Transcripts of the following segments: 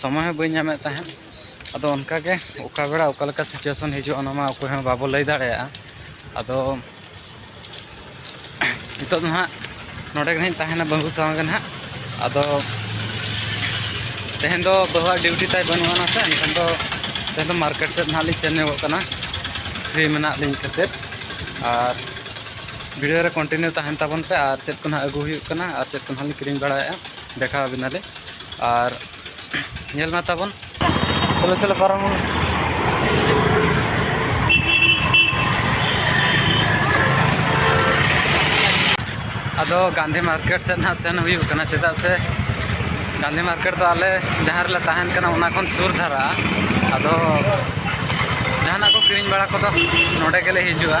ᱥᱚᱢᱚᱭ ᱦᱚᱸ ᱵᱟᱹᱧ ᱧᱟᱢᱮᱫ ᱛᱟᱦᱮᱸᱫ ᱟᱫᱚ ᱚᱱᱠᱟᱜᱮ ᱚᱠᱟ ᱵᱮᱲᱟ ᱚᱠᱟ ᱞᱮᱠᱟ ᱥᱤᱪᱩᱭᱮᱥᱚᱱ ᱦᱤᱡᱩᱜᱼᱟ ᱚᱱᱟ ᱢᱟ ᱚᱠᱚᱭ ᱦᱚᱸ ᱵᱟᱵᱚ ᱞᱟᱹᱭ ᱫᱟᱲᱮᱭᱟᱜᱼᱟ ᱟᱫᱚ ᱱᱤᱛᱚᱜ ᱫᱚ ᱦᱟᱸᱜ ᱱᱚᱰᱮ ᱜᱮ ᱦᱟᱸᱜ ᱤᱧ ᱛᱟᱦᱮᱱᱟ ᱵᱟᱹᱵᱩ ᱥᱟᱶ ᱜᱮ ᱦᱟᱸᱜ ᱟᱫᱚ ᱛᱮᱦᱮᱧ ᱫᱚ ᱵᱟᱹᱦᱩᱣᱟᱜ ᱰᱤᱭᱩᱴᱤ ᱛᱟᱭ ᱵᱟᱹᱱᱩᱜ ᱟᱱᱟ ᱥᱮ ᱮᱱᱠᱷᱟᱱ ᱫᱚ ᱛᱮᱦᱮᱧ ᱫᱚ ᱢᱟᱨᱠᱮᱴ ᱥᱮᱫ ᱦᱟᱸᱜ ᱞᱤᱧ ᱥᱮᱱ ᱧᱚᱜᱚᱜ ᱠᱟᱱᱟ ᱯᱷᱨᱤ ᱢᱮᱱᱟᱜ ᱞᱤᱧ ᱠᱷᱟᱹᱛᱤᱨ ᱟᱨ ᱵᱷᱤᱰᱤᱭᱳ ᱨᱮ ᱠᱚᱱᱴᱤᱱᱤᱭᱩ ᱛᱟᱦᱮᱱ ᱛᱟᱵᱚᱱ ᱯᱮ ᱟᱨ ᱪᱮᱫ ᱠᱚ ᱦᱟᱸᱜ ᱟᱹᱜᱩ ᱦᱩᱭᱩᱜ ᱠᱟᱱᱟ ᱟᱨ ᱪᱮᱫ ᱠᱚ ᱦᱟᱸᱜ ᱞᱤᱧ ᱠᱤᱨᱤᱧ ᱵᱟᱲᱟᱭᱮᱫᱼᱟ ᱫᱮᱠᱷᱟᱣ ᱟᱵᱤᱱᱟᱞᱤᱧ ᱟᱨ ᱧᱮᱞ ᱢᱟ ᱛᱟᱵᱚᱱ ᱪᱚᱞᱚ ᱪᱚᱞᱚ ᱯᱟᱨᱚᱢ ᱵᱚᱱ ᱟᱫᱚ ᱜᱟᱱᱫᱷᱤ ᱢᱟᱨᱠᱮᱴ ᱥᱮᱫ ᱱᱟᱦᱟᱜ ᱥᱮᱱ ᱦᱩᱭᱩᱜ ᱠᱟᱱᱟ ᱪᱮᱫᱟᱜ ᱥᱮ ᱜᱟᱱᱫᱷᱤ ᱢᱟᱨᱠᱮᱴ ᱫᱚ ᱟᱞᱮ ᱡᱟᱦᱟᱸ ᱨᱮᱞᱮ ᱛᱟᱦᱮᱱ ᱠᱟᱱᱟ ᱚᱱᱟ ᱠᱷᱚᱱ ᱥᱩᱨ ᱫᱷᱟᱨᱟ ᱟᱫᱚ ᱡᱟᱦᱟᱱᱟᱜ ᱠᱚ ᱠᱤᱨᱤᱧ ᱵᱟᱲᱟ ᱠᱚᱫᱚ ᱱᱚᱰᱮ ᱜᱮᱞᱮ ᱦᱤᱡᱩᱜᱼᱟ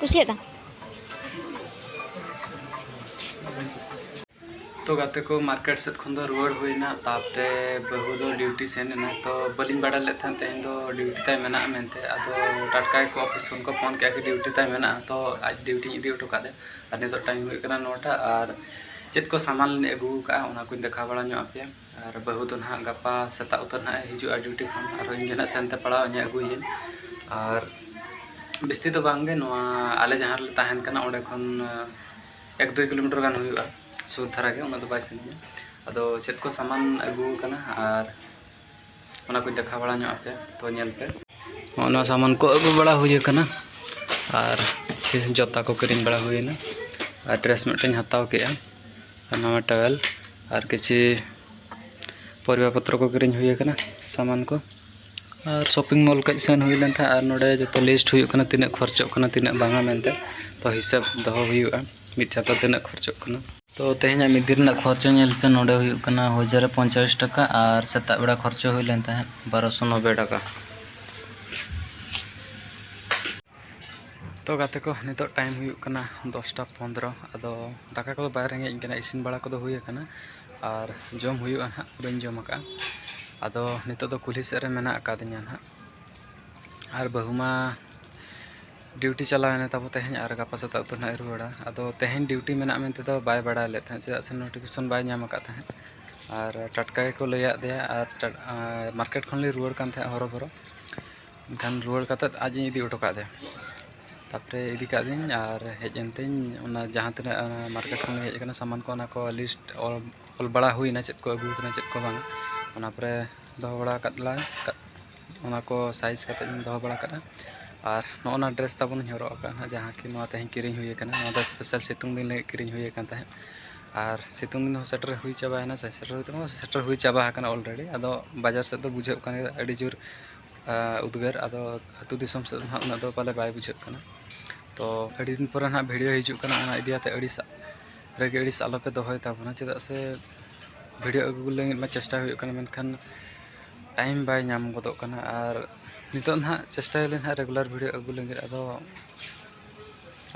ᱠᱩᱥᱤᱭᱟᱫᱟ ᱛᱚ ᱜᱟᱛᱮ ᱠᱚ ᱢᱟᱨᱠᱮᱴ ᱥᱮᱫ ᱠᱷᱚᱱ ᱫᱚ ᱨᱩᱣᱟᱹᱲ ᱦᱩᱭᱱᱟ ᱛᱟᱯᱚᱨᱮ ᱵᱟᱹᱦᱩ ᱫᱚ ᱰᱤᱭᱩᱴᱤ ᱥᱮᱱ ᱮᱱᱟ ᱛᱚ ᱵᱟᱹᱞᱤᱧ ᱵᱟᱰᱟᱭ ᱞᱮᱫ ᱛᱟᱦᱮᱸᱫ ᱛᱮᱦᱮᱧ ᱫᱚ ᱰᱤᱭᱩᱴᱤ ᱛᱟᱭ ᱢᱮᱱᱟᱜᱼᱟ ᱢᱮᱱᱛᱮ ᱟᱫᱚ ᱴᱟᱴᱠᱟ ᱜᱮᱠᱚ ᱚᱯᱷᱤᱥ ᱠᱷᱚᱱ ᱠᱚ ᱯᱷᱳᱱ ᱠᱮᱫᱼᱟ ᱠᱤ ᱰᱤᱭᱩᱴᱤ ᱛᱟᱭ ᱢᱮᱱᱟᱜᱼᱟ ᱛᱚ ᱟᱡ ᱰᱤᱭᱩᱴᱤᱧ ᱤᱫᱤ ᱦᱚᱴᱚ ᱠᱟᱫᱮᱭᱟ ᱟᱨ ᱱᱤᱛᱚᱜ ᱴᱟᱭᱤᱢ ᱦᱩᱭᱩᱜ ᱠᱟᱱᱟ ᱱᱚᱴᱟ ᱟᱨ ᱪᱮᱫ ᱠᱚ ᱥᱟᱢᱟᱱ ᱞᱤᱧ ᱟᱹᱜᱩ ᱟᱠᱟᱫᱼᱟ ᱚᱱᱟ ᱠᱚᱧ ᱫᱮᱠᱷᱟᱣ ᱵᱟᱲᱟ ᱧᱚᱜ ᱟᱯᱮᱭᱟ ᱟᱨ ᱵᱟᱹᱦᱩ ᱫᱚ ᱱᱟᱦᱟᱜ ᱜᱟᱯᱟ ᱥᱮᱛᱟᱜ ᱩᱛᱟᱹᱨ ᱱᱟᱦᱟᱜ ᱮ ᱦᱤᱡᱩᱜᱼᱟ ᱰᱤᱭᱩᱴᱤ ᱠᱷᱚᱱ ᱟᱨ ᱤᱧ ᱜᱮ ᱱᱟᱦᱟᱜ ᱥᱮᱱᱛᱮ ᱯᱟᱲᱟᱣ ᱤᱧᱟ ᱟᱹᱜᱩᱭᱟᱹᱧ ᱟᱨ ᱵᱤᱥᱛᱤ ᱫᱚ ᱵᱟᱝ ᱜᱮ ᱱᱚᱣᱟ ᱟᱞᱮ ᱡᱟᱦᱟᱸ ᱨᱮᱞᱮ ᱛᱟᱦᱮᱱ ᱠᱟᱱᱟ ᱚᱸᱰᱮ ᱠᱷᱚᱱ ᱮᱠ ᱫᱩᱭ ᱠᱤᱞᱳᱢᱤᱴᱟᱨ ᱜᱟᱱ ᱦᱩᱭᱩᱜᱼᱟ ᱥᱩᱨ ᱫᱷᱟᱨᱟ ᱜᱮ ᱩᱱᱟᱹᱜ ᱫᱚ ᱵᱟᱭ ᱥᱟᱺᱜᱤᱧᱟ ᱟᱫᱚ ᱪᱮᱫ ᱠᱚ ᱥᱟᱢᱟᱱ ᱟᱹᱜᱩ ᱟᱠᱟᱱᱟ ᱟᱨ ᱚᱱᱟ ᱠᱚᱧ ᱫᱮᱠᱷᱟᱣ ᱵᱟᱲᱟ ᱧᱚᱜ ᱟᱯᱮᱭᱟ ᱛᱚ ᱧᱮᱞ ᱯᱮ ᱱᱚᱜᱼᱚ ᱱᱚᱣᱟ ᱥᱟᱢᱟᱱ ᱠᱚ ᱟᱹᱜᱩ ᱵᱟᱲᱟ ᱦᱩᱭ ᱟᱠᱟᱱᱟ ᱟᱨ ᱡᱚᱛᱟ ᱠᱚ ᱠᱤᱨᱤᱧ ᱵᱟᱲᱟ ᱦᱩᱭᱮᱱᱟ ᱟᱨ ᱰᱨᱮᱥ ᱢᱤᱫᱴᱟᱹᱧ ᱦᱟᱛᱟᱣ ᱠᱮᱫᱼᱟ ᱟᱨ ᱱᱟᱣᱟ ᱴᱟᱣᱮᱞ ᱟᱨ ᱠᱤᱪᱷᱤ ᱯᱚᱨᱤᱵᱟ ᱯᱚᱛᱨᱚ ᱠᱚ ᱠᱤᱨᱤᱧ ᱦᱩᱭ ᱟᱠᱟᱱᱟ ᱥᱟᱢᱟᱱ ᱠᱚ ᱟᱨ ᱥᱚᱯᱤᱝ ᱢᱚᱞ ᱠᱟᱹᱡ ᱥᱮᱱ ᱦᱩᱭ ᱞᱮᱱ ᱛᱟᱦᱮᱸᱫ ᱟᱨ ᱱᱚᱰᱮ ᱡᱚᱛᱚ ᱞᱤᱥᱴ ᱦᱩᱭᱩᱜ ᱠᱟᱱᱟ ᱛᱤᱱᱟᱹᱜ ᱠᱷᱚᱨᱪᱚᱜ ᱠᱟᱱᱟ ᱛᱤᱱᱟᱹᱜ ᱵᱟᱝᱟ ᱢᱮᱱᱛᱮ ᱛᱚ ᱦᱤᱥᱟᱹᱵᱽ ᱫᱚᱦᱚ ᱦᱩᱭᱩᱜᱼᱟ ᱢᱤᱫ ᱪᱟᱸᱫᱚ ᱛᱤᱱᱟᱹᱜ ᱠᱷᱚᱨᱪᱚᱜ ᱠᱟᱱᱟ ᱛᱚ ᱛᱮᱦᱮᱧᱟᱜ ᱢᱤᱫ ᱫᱤᱱ ᱨᱮᱱᱟᱜ ᱠᱷᱚᱨᱪᱟ ᱧᱮᱞ ᱯᱮ ᱱᱚᱰᱮ ᱦᱩᱭᱩᱜ ᱠᱟᱱᱟ ᱦᱚᱡᱟᱨ ᱨᱮ ᱯᱚᱧᱪᱟᱥ ᱴᱟᱠᱟ ᱟᱨ ᱥᱮᱛᱟᱜ ᱵᱮᱲᱟ ᱠᱷᱚᱨᱪᱟ ᱦᱩᱭ ᱞᱮᱱ ᱛᱟᱦᱮᱸᱫ ᱵᱟᱨᱚᱥᱚ ᱱᱚᱵᱵᱳᱭ ᱴᱟᱠᱟ ᱛᱚ ᱜᱟᱛᱮ ᱠᱚ ᱱᱤᱛᱚᱜ ᱴᱟᱭᱤᱢ ᱦᱩᱭᱩᱜ ᱠᱟᱱᱟ ᱫᱚᱥᱴᱟ ᱯᱚᱱᱫᱨᱚ ᱟᱫᱚ ᱫᱟᱠᱟ ᱠᱚᱫᱚ ᱵᱟᱭ ᱨᱮᱸᱜᱮᱡ ᱤᱧ ᱠᱟᱱᱟ ᱤᱥᱤᱱ ᱵᱟᱲᱟ ᱠᱚᱫᱚ ᱦᱩᱭ ᱟᱠᱟᱱᱟ ᱟᱨ ᱡᱚᱢ ᱦᱩᱭᱩᱜᱼᱟ ᱦᱟᱸᱜ ᱵᱟᱹᱧ ᱡᱚᱢ ᱟᱠᱟᱫᱼᱟ ᱟᱫᱚ ᱱᱤᱛᱚᱜ ᱫᱚ ᱠᱩᱞᱦᱤ ᱥᱮᱫ ᱨᱮ ᱢᱮᱱᱟᱜ ᱟᱠᱟᱫᱤᱧᱟ ᱦᱟᱸᱜ ᱟᱨ ᱵᱟᱹᱦᱩ ᱢᱟ ᱰᱤᱭᱩᱴᱤ ᱪᱟᱞᱟᱣ ᱮᱱᱟ ᱛᱟᱵᱚ ᱛᱮᱦᱮᱧ ᱟᱨ ᱜᱟᱯᱟ ᱥᱮᱛᱟᱜ ᱩᱛᱟᱹᱨ ᱱᱟᱦᱟᱜ ᱮ ᱨᱩᱣᱟᱹᱲᱟ ᱟᱫᱚ ᱛᱮᱦᱮᱧ ᱰᱤᱭᱩᱴᱤ ᱢᱮᱱᱟᱜᱼᱟ ᱢᱮᱱᱛᱮ ᱫᱚ ᱵᱟᱭ ᱵᱟᱲᱟᱭ ᱞᱮᱫ ᱛᱟᱦᱮᱸᱫ ᱪᱮᱫᱟᱜ ᱥᱮ ᱱᱳᱴᱤᱯᱷᱤᱠᱮᱥᱚᱱ ᱵᱟᱭ ᱧᱟᱢ ᱟᱠᱟᱫ ᱛᱟᱦᱮᱸᱫ ᱟᱨ ᱴᱟᱴᱠᱟ ᱜᱮᱠᱚ ᱞᱟᱹᱭᱟᱫ ᱫᱮᱭᱟ ᱟᱨ ᱢᱟᱨᱠᱮᱴ ᱠᱷᱚᱱ ᱞᱮ ᱨᱩᱣᱟᱹᱲ ᱠᱟᱱ ᱛᱟᱦᱮᱸᱫ ᱦᱚᱨᱚ ᱵᱚᱨᱚ ᱮᱱᱠᱷᱟᱱ ᱨᱩᱣᱟᱹᱲ ᱠᱟᱛᱮᱫ ᱟᱡ ᱤᱧ ᱤᱫᱤ ᱦᱚᱴᱚ ᱠᱟᱫᱮᱭᱟ ᱛᱟᱨᱯᱚᱨᱮ ᱤᱫᱤ ᱠᱟᱫᱤᱧ ᱟᱨ ᱦᱮᱡ ᱮᱱᱛᱤᱧ ᱚᱱᱟ ᱡᱟᱦᱟᱸ ᱛᱤᱱᱟᱹᱜ ᱢᱟᱨᱠᱮᱴ ᱠᱷᱚᱱ ᱦᱮᱡ ᱟᱠᱟᱱᱟ ᱥᱟᱢᱟᱱ ᱠᱚ ᱚᱱᱟ ᱠᱚ ᱞᱤᱥᱴ ᱚᱞ ᱚᱞ ᱵᱟᱲᱟ ᱦᱩᱭᱱᱟ ᱪᱮᱫ ᱠᱚ ᱟᱹᱜᱩ ᱟᱠᱟᱱᱟ ᱪᱮᱫ ᱠᱚ ᱵᱟᱝ ᱚᱱᱟ ᱯᱚᱨᱮ ᱫᱚᱦᱚ ᱵᱟᱲᱟ ᱟᱠᱟᱫ ᱞᱟᱝ ᱚᱱᱟ ᱠᱚ ᱥᱟᱭᱤᱡᱽ ᱠᱟᱛᱮᱫ ᱤᱧ ᱫᱚᱦᱚ ᱵᱟᱲᱟ ᱠᱟᱜᱼᱟ ᱟᱨ ᱱᱚᱜᱼᱚ ᱱᱟ ᱰᱨᱮᱥ ᱛᱟᱵᱚᱱ ᱤᱧ ᱦᱚᱨᱚᱜ ᱟᱠᱟᱫᱼᱟ ᱦᱟᱸᱜ ᱡᱟᱦᱟᱸ ᱠᱤ ᱱᱚᱣᱟ ᱛᱮᱦᱮᱧ ᱠᱤᱨᱤᱧ ᱦᱩᱭ ᱠᱟᱱᱟ ᱱᱚᱣᱟ ᱫᱚ ᱥᱯᱮᱥᱟᱞ ᱥᱤᱛᱩᱝ ᱫᱤᱱ ᱞᱟᱹᱜᱤᱫ ᱠᱤᱨᱤᱧ ᱦᱩᱭ ᱠᱟᱱ ᱛᱟᱦᱮᱸᱫ ᱟᱨ ᱥᱤᱛᱩᱝ ᱫᱤᱱ ᱦᱚᱸ ᱥᱮᱴᱮᱨ ᱦᱩᱭ ᱪᱟᱵᱟᱭᱮᱱᱟ ᱥᱮ ᱥᱮᱴᱮᱨ ᱦᱩᱭ ᱫᱚ ᱵᱟᱝ ᱥᱮᱴᱮᱨ ᱦᱩᱭ ᱪᱟᱵᱟ ᱟᱠᱟᱱᱟ ᱚᱞᱨᱮᱰᱤ ᱟᱫᱚ ᱵᱟᱡᱟᱨ ᱥᱮᱫ ᱫᱚ ᱵᱩᱡᱷᱟᱹᱜ ᱠᱟᱱ ᱜᱮᱭᱟ ᱟᱹᱰᱤ ᱡᱳᱨ ᱩᱫᱽᱜᱟᱹᱨ ᱟᱫᱚ ᱟᱹᱛᱩ ᱫᱤᱥᱚᱢ ᱥᱮᱫ ᱫᱚ ᱦᱟᱸᱜ ᱩᱱᱟᱹᱜ ᱫᱚ ᱯᱟᱞᱮ ᱵᱟᱭ ᱵᱩᱡᱷᱟᱹᱜ ᱠᱟᱱᱟ ᱛᱚ ᱟᱹᱰᱤ ᱫᱤᱱ ᱯᱚᱨᱮ ᱦᱟᱸᱜ ᱵᱷᱤᱰᱭᱳ ᱦᱤᱡᱩᱜ ᱠᱟᱱᱟ ᱚᱱᱟ ᱤᱫᱤ ᱠᱟᱛᱮᱫ ᱟᱹᱲᱤᱥ ᱨᱟᱹᱜᱤ ᱟᱹᱲᱤᱥ ᱟᱞᱚᱯᱮ ᱫᱚᱦᱚᱭ ᱛᱟᱵᱚᱱᱟ ᱪᱮᱫᱟᱜ ᱥᱮ ᱵᱷᱤᱰᱭᱳ ᱟᱹᱜᱩ ᱞᱟᱹᱜᱤᱫ ᱢᱟ ᱪᱮᱥᱴᱟ ᱦᱩᱭᱩᱜ ᱠᱟᱱᱟ ᱢᱮᱱᱠᱷᱟᱱ ᱴᱟᱭᱤᱢ ᱵᱟᱭ ᱧᱟᱢ ᱜᱚᱫᱚᱜ ᱠᱟᱱᱟ ᱟᱨ ᱱᱤᱛᱚᱜ ᱱᱟᱦᱟᱜ ᱪᱮᱥᱴᱟᱭᱟᱞᱤᱧ ᱱᱟᱦᱟᱜ ᱨᱮᱜᱩᱞᱟᱨ ᱵᱷᱤᱰᱤᱭᱳ ᱟᱹᱜᱩ ᱞᱟᱹᱜᱤᱫ ᱟᱫᱚ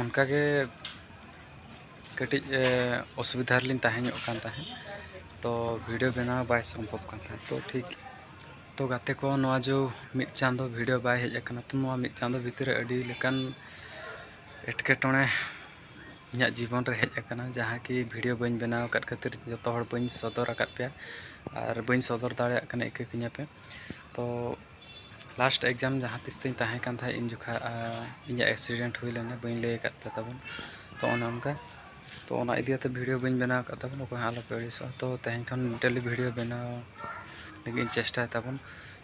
ᱚᱱᱠᱟᱜᱮ ᱠᱟᱹᱴᱤᱡ ᱚᱥᱩᱵᱤᱫᱷᱟ ᱨᱮᱞᱤᱧ ᱛᱟᱦᱮᱸ ᱧᱚᱜ ᱠᱟᱱ ᱛᱟᱦᱮᱸᱫ ᱛᱚ ᱵᱷᱤᱰᱤᱭᱳ ᱵᱮᱱᱟᱣ ᱵᱟᱭ ᱥᱚᱢᱵᱷᱚᱵ ᱠᱟᱱ ᱛᱟᱦᱮᱸᱫ ᱛᱚ ᱴᱷᱤᱠ ᱛᱚ ᱜᱟᱛᱮ ᱠᱚ ᱱᱚᱣᱟ ᱡᱮ ᱢᱤᱫ ᱪᱟᱸᱫᱚ ᱵᱷᱤᱰᱤᱭᱳ ᱵᱟᱭ ᱦᱮᱡ ᱟᱠᱟᱱᱟ ᱛᱚ ᱱᱚᱣᱟ ᱢᱤᱫ ᱪᱟᱸᱫᱚ ᱵᱷᱤᱛᱤᱨ ᱨᱮ ᱟᱹᱰᱤ ᱞᱮᱠᱟᱱ ᱮᱴᱠᱮᱴᱚᱬᱮ ᱤᱧᱟᱹᱜ ᱡᱤᱵᱚᱱ ᱨᱮ ᱦᱮᱡ ᱟᱠᱟᱱᱟ ᱡᱟᱦᱟᱸ ᱠᱤ ᱵᱷᱤᱰᱤᱭᱳ ᱵᱟᱹᱧ ᱵᱮᱱᱟᱣ ᱟᱠᱟᱫ ᱠᱷᱟᱹᱛᱤᱨ ᱡᱚᱛᱚ ᱦᱚᱲ ᱵᱟᱹᱧ ᱥᱚᱫᱚᱨ ᱟᱠᱟᱫ ᱯᱮᱭᱟ ᱟᱨ ᱵᱟᱹᱧ ᱥᱚᱫᱚᱨ ᱫᱟᱲᱮᱭᱟᱜ ᱠᱟᱱᱟ ᱤᱠᱟᱹ ᱠᱤᱧᱟᱹ ᱯᱮ ᱛᱚ ᱞᱟᱥᱴ ᱮᱠᱡᱟᱢ ᱡᱟᱦᱟᱸ ᱛᱤᱥ ᱛᱤᱧ ᱛᱟᱦᱮᱸ ᱠᱟᱱ ᱛᱟᱦᱮᱸᱫ ᱤᱧ ᱡᱚᱠᱷᱟᱡ ᱤᱧᱟᱹᱜ ᱮᱠᱥᱤᱰᱮᱱᱴ ᱦᱩᱭ ᱞᱮᱱᱟ ᱵᱟᱹᱧ ᱞᱟᱹᱭ ᱟᱠᱟᱫ ᱯᱮ ᱛᱟᱵᱚᱱ ᱛᱚ ᱚᱱᱮ ᱚᱱᱠᱟ ᱛᱚ ᱚᱱᱟ ᱤᱫᱤ ᱠᱟᱛᱮ ᱵᱷᱤᱰᱤᱭᱳ ᱵᱟᱹᱧ ᱵᱮᱱᱟᱣ ᱟᱠᱟᱫ ᱛᱟᱵᱚᱱ ᱚᱠᱚᱭ ᱦᱚᱸ ᱟᱞᱚᱯᱮ ᱟᱹᱲᱤᱥᱚᱜᱼᱟ ᱛᱚ ᱛᱮᱦᱮᱧ ᱠᱷᱚᱱ ᱰᱮᱞᱤ ᱵᱷᱤᱰᱤᱭᱳ ᱵᱮᱱᱟᱣ ᱞᱟᱹᱜᱤᱫ ᱤᱧ ᱪᱮᱥᱴᱟᱭ ᱛᱟᱵᱚᱱ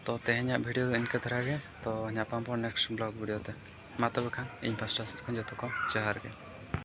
ᱛᱚ ᱛᱮᱦᱮᱧᱟᱜ ᱵᱷᱤᱰᱤᱭᱳ ᱫᱚ ᱤᱱᱠᱟᱹ ᱫᱷᱟᱨᱟ ᱜᱮ ᱛᱚ ᱧᱟᱯᱟᱢ ᱵᱚᱱ ᱱᱮᱠᱥᱴ ᱵᱞᱚᱜᱽ ᱵᱷᱤᱰᱤᱭᱳ ᱛᱮ ᱢᱟ ᱛᱚᱵᱮ ᱠᱷᱟᱱ ᱤᱧ ᱯᱟᱥᱴᱟ ᱥᱮᱫ ᱠᱷᱚᱱ ᱡᱚᱛᱚ ᱠᱚ ᱡᱚᱦᱟᱨ ᱜᱮ